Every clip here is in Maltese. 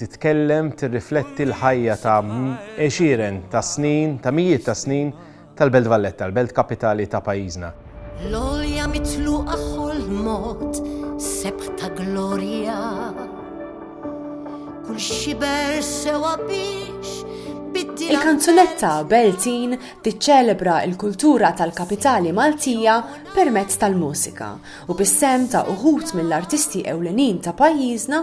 titkellem, tirrifletti l-ħajja ta' għexieren ta' snin, ta' mijiet ta' snin, tal-Belt Valletta, l-belt kapitali ta' pajjiżna. L-għolja mitluqa ħolmot sebħ ta' glorja. Kull xiber sewa biex biddil. Il-kanzunetta Beltin tiċċelebra l-kultura tal-kapitali Maltija permezz tal-mużika u bis-sehem ta' uħud mill-artisti ewlenin ta' pajjiżna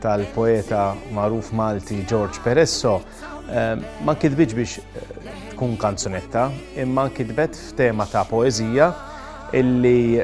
tal-poeta magħruf Malti George Peresso ma kitbitx biex tkun kanzunetta, imma kitbet f'tema ta' poeżija illi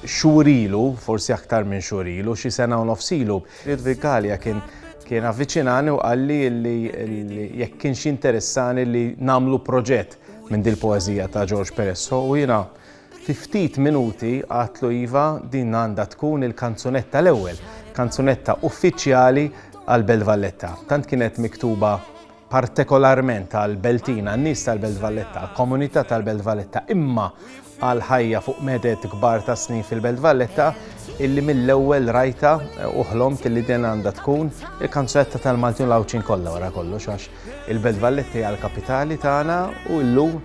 xurilu, forsi aktar minn xurilu, xi sena u nofsilu. Ludwig Gallia kien kien avviċinani u qalli li jekk kienx interessani li namlu proġett minn dil poezija ta' George Peresso u jina Fi ftit minuti għatlu iva din għandha tkun il-kanzunetta l-ewwel, kanzunetta uffiċjali għal Belt Valletta. Tant kienet miktuba partekolarment għal Beltina, n-nies tal-Belt Valletta, komunità tal-Belt Valletta, imma għal ħajja fuq medet kbar ta' snin fil-Belt Valletta illi mill-ewwel rajta eh, u ħlomt illi din għandha tkun il-kanzetta tal-Maltin Lawċin kollha wara kollox għax il-Belt Valletta hija l-kapitali tagħna u llum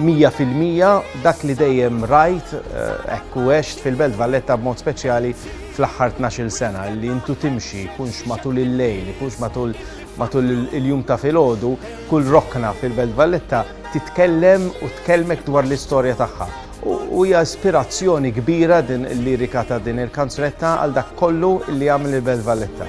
Mija fil-mija dak li dejjem rajt hekk u għext fil-Belt Valletta b'mod speċjali fl-aħħar tnax-il sena li intu timxi jkunx matul il-lejl, jkunx matul matul il-jum ta' filgħodu, kull rokna fil-Belt Valletta titkellem u tkellmek dwar l-istorja tagħha. U hija ispirazzjoni kbira din il-lirika ta' din il-kanzunetta għal dak kollu li għamel il-Belt Valletta.